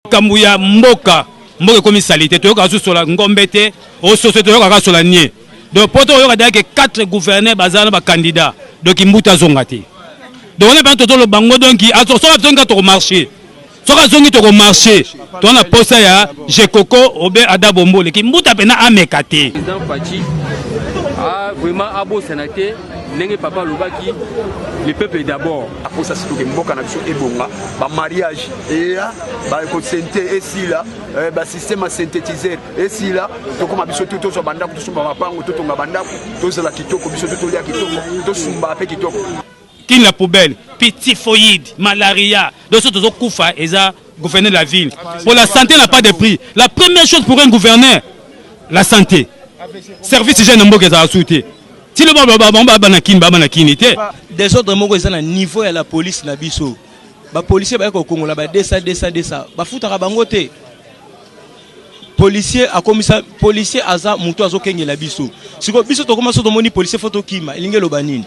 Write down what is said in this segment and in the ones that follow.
makambo ya mboka mboka ekomi salite toyokaka susu sola ngombe te ososo toyokaka sola nie donc mpo tokoyoka daya ke quatre gouverneur baza na bacandidat donc mbuta azonga te donc wana mpena totoloba ngo donc soki azongi ka tokomarche soki azongi tokomarche toza na mposa ya jekoko obe ada bombole kimbuta mpena ameka te vraiment abosana te ndenge papa alobaki le peuple d'abord aposa sikoke mboka na biso ebonga bamariage eya bakosente esila eh, basystème ya synthétiseur esila tokoma biso tu tozwa bandako tosomba mapango totonga bandako tozala kitoko biso tu tolia kitoko tosumba mpe kitoko kin la poubelle puis typhoïde malaria biso tozokufa eza gouverneur de la ville mpo la santé n'a pas de prix la première chose pour un gouverneur la santé service hygiène na mboka ezala su te Ti loba ba ba ba ba na kin ba ba na kini te. Desordre moko eza na niveau ya la police na biso. Ba policiers baye ko kongola ba desa desa desa. Ba futaka bango te. Policier akomisa policier aza mutu azo kengela biso. Siko biso tokoma so tomoni policier faut tokima. Elingi eloba nini?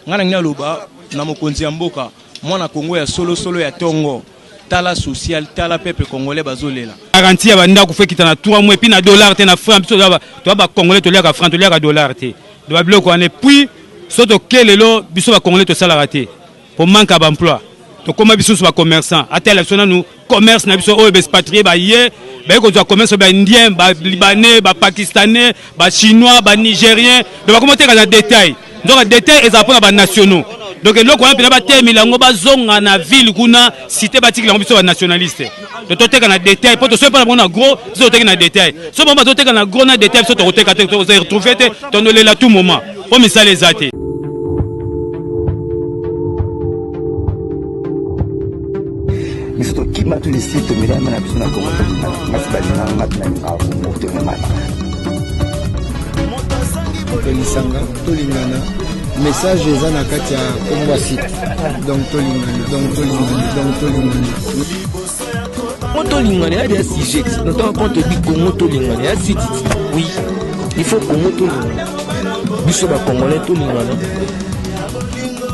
Nga na ngi naloba na mokonzi ya mboka mwana Kongo ya solo solo ya tongo. tala social tala peuple congolais bazo lela garantie ya ba ndaku fe kita na 3 mois puis na dollar te na franc biso ba to ba congolais to liaka franc to liaka dollar te de ba biloko ane puis so to ke lelo biso ba congolais to salaka te pour manque à emploi to koma biso ba commerçant ata la biso nanu commerce na biso oyo ba expatrié ba ye ba ko zwa commerce ba indien ba libanais ba pakistanais ba chinois ba nigérien de ba koma teka na détail nzoka detail ezala mpona ba nationaux donc eloko wana mpena batemela yango bazonga na ville kuna site batikela yango biso ba nationaliste tototeka na detail mpo tosoki mpo na bango na gros biso toteki na detail so bango bazoteka na gros na detail biso tokoteka te toza retrouve te tondolela tout moment mpo misala eza te biso tokima tu lisi tomelama na biso na kongo tokima na basi balinganga tuna lingaka kongo tomelama tolisanga tolingana message eza na kati ya kombo ya site donc tolingana donc tolingana donc tolingana kongo tolingana ya ya sujet na ntango konto ebi kongo tolingana ya site oui il faut kongo tolingana biso bakongolais tolingana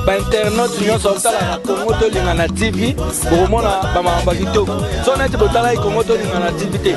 bainternaute nyonso botalaka kongo tolingana tv bokomona bamakambo ya kitoko so neti botalaki kongo tolingana tv te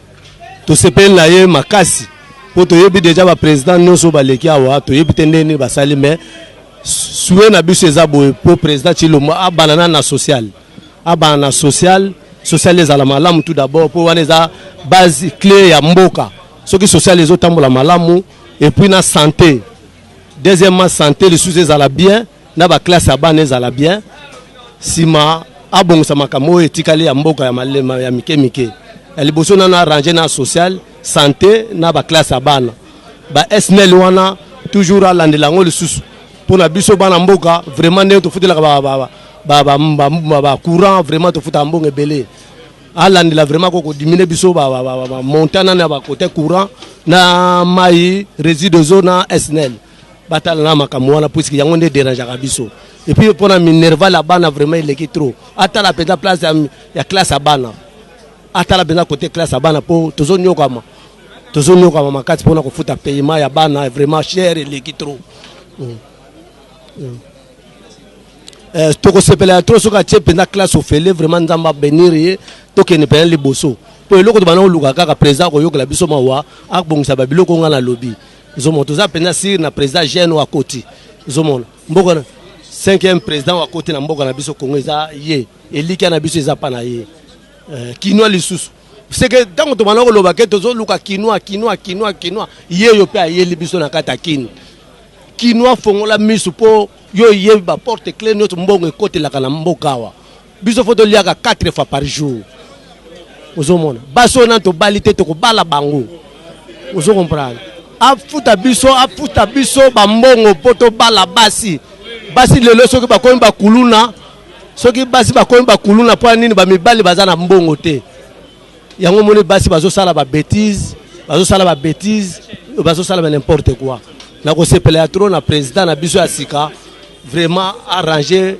tosepeli na ye makasi mpo toyebi deja bapresident nyonso oyo baleki awa toyebi te ndenge nini basali mais sue na biso eza boye mpo président chilombo abana na na social abana na social social ezala malamu tout d'abord mpo wana eza base clé ya mboka soki social ezotambola malamu epuis na santé deuxièmement santé lisusu ezala bien na ba classe ya bana ezala bien sima abongisa makambo oyo etikali ya mboka ya malema ya mike mike ya liboso nano arrange na social sante na ba classe ya bana ba snl wana toujours alandela yango lisusu mpo na biso bana mboka vraiment ndenge tofutelaka ba, ba, ba, bacourant vraiment tofuta mbongo ebele alandela vraiment ko kodimine biso bamontana na bacote courant na mai résideau na snl batala na makambo wana puisque yango nde derangeaka biso epuis mpo na minerval ya bana vraiment eleki trop atala mpenza place ya, ya classe ya bana atala mpenza kote classe ya bana mpo tozonyokama tozonyokama makasi mpona kofuta paiement ya bana vraiment cher eleki trop mm. Mm. Eh, tokosepela ya trop soki atie mpenza classe ofele vraiment nzambe abenir ye tokende mpenza liboso mpo eloko tobanda koluka kaka président akoyokela biso mawa abongisa babiloko ngai nalobi Zomo toza penza sir na president jeune wa koti zomo mboka na cinquième président wa koti na mboka na biso Congo eza ye elikia na biso eza pa na ye euh, kinois lisusu seke ntango tobanda koloba ke tozoluka kinois kinois kinois kinois ye yo mpe ayeli biso na kati ya kini kinois fongola miso mpo yo oyebi baporte cle nyonso mbongo ekotelaka na mboka awa biso fo toliaka 4 fois par jour ozomona basi oyo nani tobali te tokobala bango ozo comprendre afuta biso afuta biso bambongo mpo tobala basi basi lelo soki bakomi bakuluna soki basi bakomi bakuluna mpo ya nini bamibali baza na mbongo te yango omoni basi bazosala ba betise bazosala ba betise bazosala ba n'importe quoi nakosepela ya trop na président na biso ya sika vraiment arranger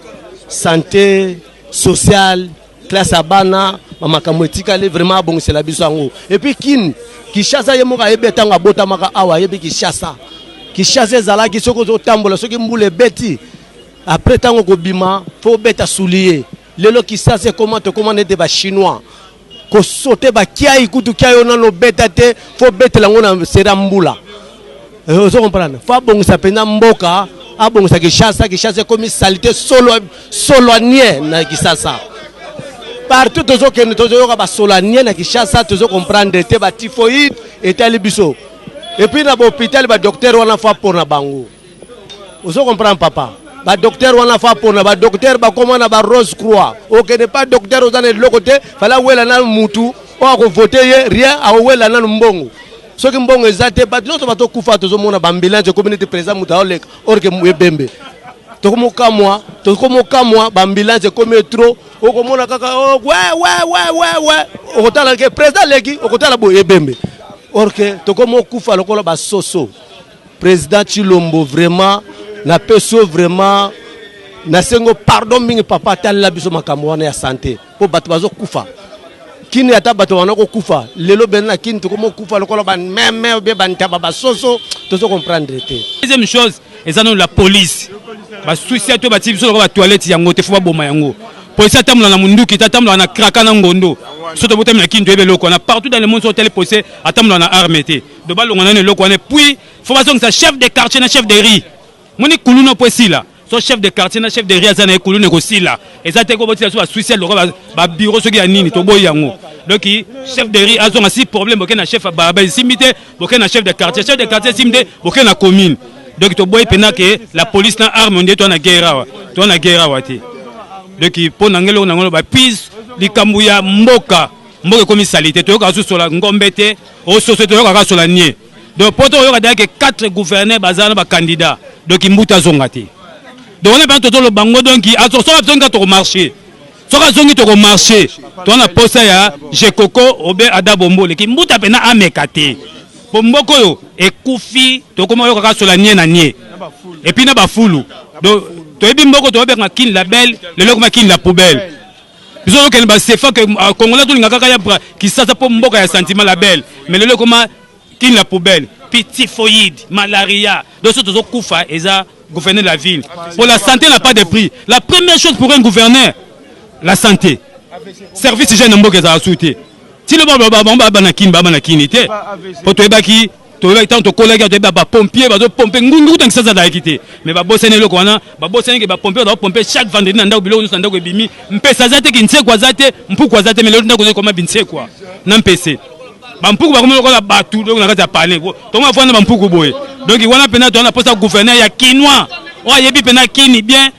santé sociale classe ya bana bamakambo etikali vraiment abongisela biso yango epuis kini kishasa ye moko ayebi ntango abotamaka awa ayebi kishasa kishasa ezalaki soki ozotambola soki mbula ebeti apres ntango kobima fo obeta suliye Lelo Kisasa ekoma tokoma nete ba chinois ko sauter ba kiai kutu kiai ona no beta te faut betela ngo na sera mbula euh, ozo comprendre faut abongisa pena mboka abongisa Kishasa Kishasa ekomi salite solo solanie na Kisasa partout tozo kende tozo yoka ba solanie na Kishasa tozo comprendre te ba typhoïde etali biso et puis na ba hôpital ba docteur wana faut pona bango ozo comprendre papa ba docteur wana fa pona ba docteur bakoma na ba rose croix okende pa docteur oza na eloko te fala wela na mutu oyo akovote ye rien akowela nanu mbongo soki mbongo eza te bato nyonso batokufa tozomona bambilange ekomi neti président moto aoleka orke ebembe tokomokamwa tokomokamwa bambilange ekomi etro okomona kaka wewewewewe oh, okotala ke président aleki okotala boye ebembe orke tokomokufa lokola basoso President Chilombo vraiment na peso vraiment na sengo pardon mingi papa talela biso makambo wana ya sante mpo bato bazokufa kini ata bato bana kokufa lelo bene na kini tokomi okufa lokola bameme obie bantaba basoso tozo comprendre te deuxième chose eza nano la police basusi ato batii biso lokola batoilette yango te fo baboma yango polisi atambola na munduki te atambola na kraka na ngondo so tobotami na kini toyebi eloko wana partout dans le monde so otali polisi atambola na arme te do balonga nanu eloko wana puis fo bazongisa chef de quartier na chef de rue moni kuluna mpo esila so chef de quartier na chef de rue aza na ye kuluna ekosila eza te kobotisa so basuicide lokola babiro soki ya nini toboyi yango donc chef de rue azonga si problème boke na chef baraba esimbi te boke na chef de quartier chef de quartier esimbi te boke na commune donc toboyi mpenza ke la police na arme nde toa na guerre awa toa na guerre awa te donc mpo na ngai eloko na yango loba puis likambo ya mboka mboka ekomi salite toyoka susola ngombe te Au soso toyoka kaka sola nie. Donc poto oyoka d'ailleurs que quatre gouverneurs baza na ba candidats. Donc Kimbutu azonga te. Donc on a pas toto le bango donc azo soka zonga to marché. Soka zongi to marché. Toi na posa ya Jekoko obe Ada Bombole Kimbutu apena ameka te. Po mboko yo ekufi tokoma yoka kaka sola nie na nie. Et puis na ba fulu. Donc toyebi mboko toyebi na kin label lelo koma kin la poubelle. biso tokende ba sefa que euh, congolais tolinga kaka ya kisasa mpo mboka ya sentiment la belle mais lelo ekoma kin la poubelle puis typhoïde malaria donc so tozokufa eza gouverner la ville mpo la santé n'a pas de prix la première chose pour un gouverneur la santé service jeune na mboka ezala su te ti loba bango baba na kini baba na kini te mpo toyebaki toyebaki ntango tokolaki awa toyebi bapompier bazopompe ngungi kuta nkisasa azalaki te me babosani eloko wana babosani ke bapompier baza kopompe chaque vendredi na ndako biloko nyonso na ndako ebimi mpese aza te kinsekwa aza te mpuku aza te me lelo ndako ozali koma binsekwa na mpese bampuku bakomi lokola bato donc na kati ya pane tongo afanda bampuku boye donc wana mpena toza na mposa gouverneur ya kinois oyo ayebi mpena kini bien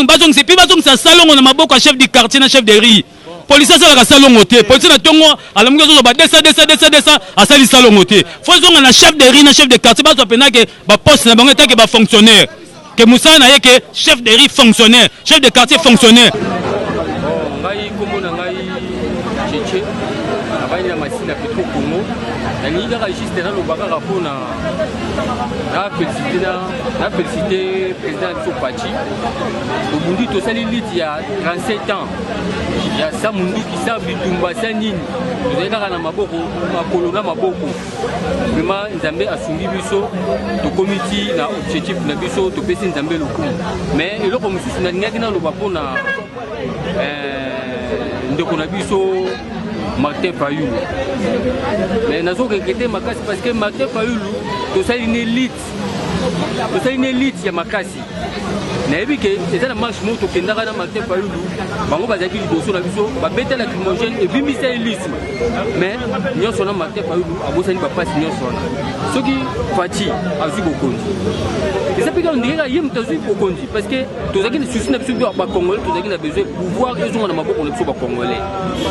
bazongisa mpe bazongisa salongo na maboko ya chef du quartier na chef de rue Policier asalaka salongo te. Policier na tongo alamuki azozo ba 200 200 200 200 asali salongo te. Faut zonga na chef de rue na chef de quartier bazwa pena ke ba poste na bango etant ke ba fonctionnaire. Ke musala na ye ke chef de rue fonctionnaire, chef de quartier fonctionnaire. Bon, ngai kombo na ngai Cheche. Nabandi na masini ya Petro Congo. Nalingi kaka juste na loba kaka mpo na na felicite na na felicite président na biso Pachi. Tobundi tosali lutte ya 37 ans. ya sa munduki sa bitumba sa nini tozali kaka na maboko makolo na maboko vrema nzambe asungi biso tokomi ti na objectif na biso topesi nzambe lokumu mais eloko mosusu nalingaki naloba mpo na eh, ndeko na biso martin fayulu mais nazokeke te makasi parce que martin fayulu tosali ne lite osali na elite ya makasi nayebi ke eza na marche moko tokendaka na martin fayulu bango bazalaki liboso na biso babeta na crimogène ebimbisa ye lisu mais nyonso wana martin fayulu abosani bapasi nyonso wana soki faci azwi bokonzi eza mpe kaka ndenge kaka ye moto azwi bokonzi parce que tozalaki na susi na biso mpe bacongolais tozalaki na besoin pouvoir ezonga na maboko na biso bacongolais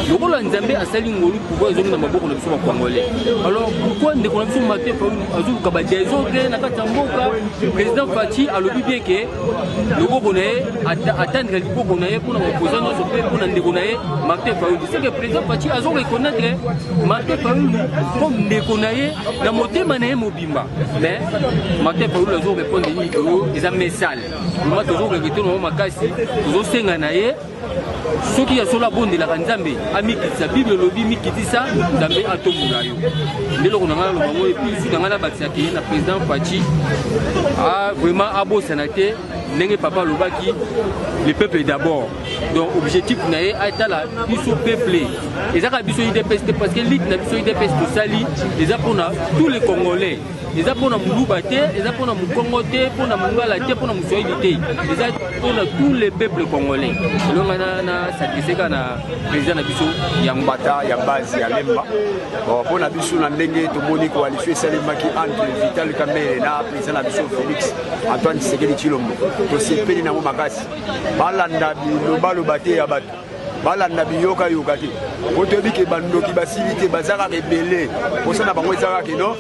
lokola nzambe asali ngolu pouvoir ezongi na maboko na biso bacongolais alors pourquoi ndeko na biso martin fayulu azoluka ba desordre na kati ya mboka président faci alobi bien ke loboko na ye atandika liboko na ye mpona baopoza nyonso mpe mpona ndeko na ye martin fayulu seke président faci azo reconnaître martin fayulu comme ndeko na ye na motema na ye mobimba mais martin fayulu azo répondre nini oyo eza mesale vraimen tozo regrete nango makasi tozosenga na ye soki ya solo abondelaka nzambe amikitisa bible elobi mikitisa nzambe atombola yo nde eloko na ngai naloba yango epilisi na ngai nabakisa ke na président faci vraiment abosana te ndenge papa alobaki le peuple d'abord donc objectif na ye atala biso peuple ezaka biso idps te parce que lite na biso idps tosali eza mpona tous les congolais eza mpo na muluba te eza mpo na mokongo te mpo na mongala te mpo na moswahili te eza mpo na tous les peuples congolais elonga na sakrifie kaka na président na biso ya mbata ya base ya lemba mpo na biso na ndenge tomoni koalisio esalemaki entre vital kamere na président na biso félix antoine tshisekedi tshilombo tosepeli nango makasi balanda bilobaloba te ya bato balanda biyoka yoka te po toyebi ke bandoki basili te baza kaka ebele mposa na bango eza kaka keno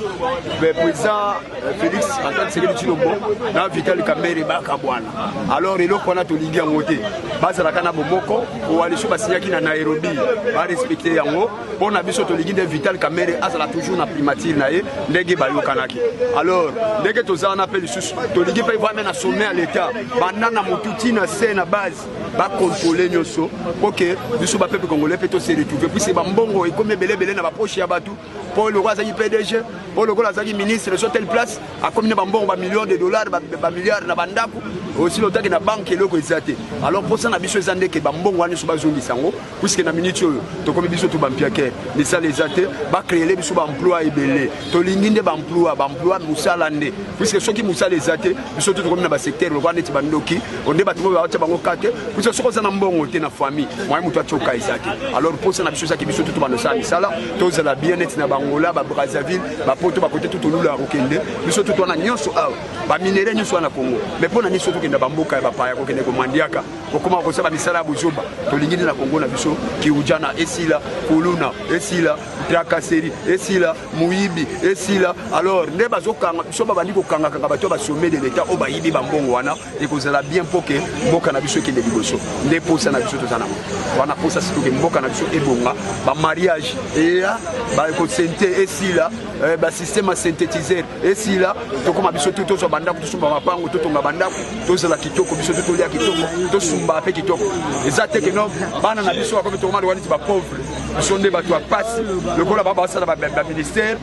président euh, félix antoine sekeli tshilombo na vital kambere bakabwana alors eloko wana tolingi yango te bazalaka na bomoko koalition basinyaki na nairobi barespecte yango mpo na biso tolingi nde vital kamere azala toujours na primature na ye ndenge bayokanaki alors ndenge toza wana mpe lisusu tolingi mpe vame na sommet ya l'état banda na motu ntina se na base ba contrôler nyoso po que biso ba peuple congolais pe to se retrouver puisque ba mbongo ekomi ebele ebele na ba poche ya bato po lokola azaki PDG po lokola azaki ministre sur telle place akomi na ba mbongo ba millions de dollars ba, ba milliards na ba ndako aussi lotaki na banque eloko eza te alors posa na biso eza ndeke ba mbongo wana nyonso bazongisa yango puisque na minute oyo tokomi biso tu bampiake misala eza te bacreele biso baemploi ebele tolingi nde baemploi baemploi mosala nde puisque soki mosala eza te biso tu tokomi na basecteur lokola neti bandoki onde bato oyo baotya bango kate puisque soki oza na mbongo te na famille moye moto atyoka eza te alors mposa na biso ezaki biso tu tobanda osala misala tozala bien neti na bangola babrazzaville bapoto bakote tu tolula kokende biso tu twana nyonso awa baminere nyonso wana na congo mais mpo na nini so tokenda bamboka ya bapaya kokende komandiaka kokoma kosala misala ya bozoba tolingi nde na kongo na biso kiujana esila kuluna esila trakaseri esila moyibi esila alors nde bazokanga biso babandi kokangakanga bato ya basome de leta oyo bayibi bambongo wana ekozala bien mpo ke mboka na biso ekende liboso nde mposa na biso toza nango wana mposa sikoke mboka na biso ebonga bamariage eya bakosente esila eh, basystème ya synthétiseur esila tokoma biso tu tozwa bandako tosomba mapango totonga bandako tozala kitoko biso tu tolia kitoko tosumba mpe kitoko eza te keno bana na biso bakomi tokoma lokola neti bapauvre biso nde bato ya mpasi lokola baa basala baministère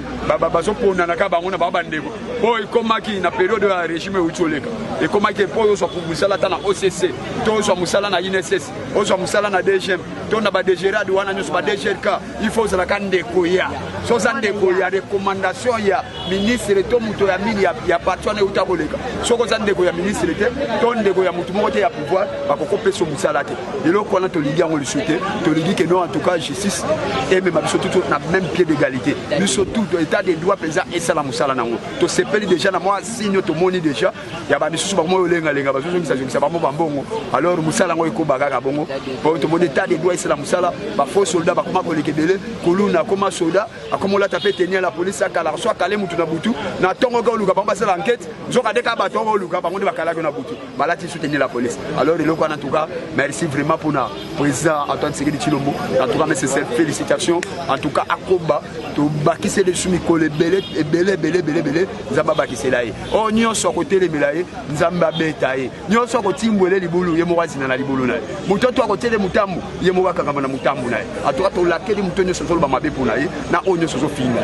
bazopondana kaka bango na bango bandeko mpo ekomaki na periode ya régime euti oleka ekomaki mpo ozwa mosala ata na occ to ozwa mosala na inss ozwa mosala na dgm to na badegerade wana nyonso badegerka il faut ozalaka ndeko ya so oza ndeko ya recommandation ya ministre to moto ya mini ya, ya parti wana euta koleka soki oza ndeko ya ministre te to ndeko ya moto moko te ya pouvoir bakokopesa mosala te eloko wana tolingi yango lisu te tolingi ke non en tout cas justice emema biso tutu na même pied d'égalité biso tout état de droit mpenza esala mosala na yango tosepeli déjà na mwa signe tomoni déjà ya bamisusu bakomoi olengalenga bazozongisazongisa bango bambongo alors mosala yango ekoba kaka bongo po tomoni etat de droit esala mosala bafaux soldat bakoma koleka ebele kuluna akoma soda akoma olata mpe tenia la polisi akalaka so akale motu na butu na ntongo oke oluka bango basala enquete nzoka nde kaka bato oko oluka bango nde bakalaki na butu balati so tenia la polisi alors eloko wana tuka merci vraiment mpona président antoine sekedi cilombo en tout cas mes sincères félicitations en tout cas akoba tobakiseli biso mikolo ebele ebele ebele ebele ebele nzambe abakisela ye oyo oh, nyonso akotelemela ye nzambe abeta ye nyonso akotimbwele libulu ye moko azina na libulu na ye moto oto akotele motambo ye moko akangama na motambo na ye atoka tolakeli moto nyonso ozoloba mabe mpo na ye na oyo nyonso ozofinga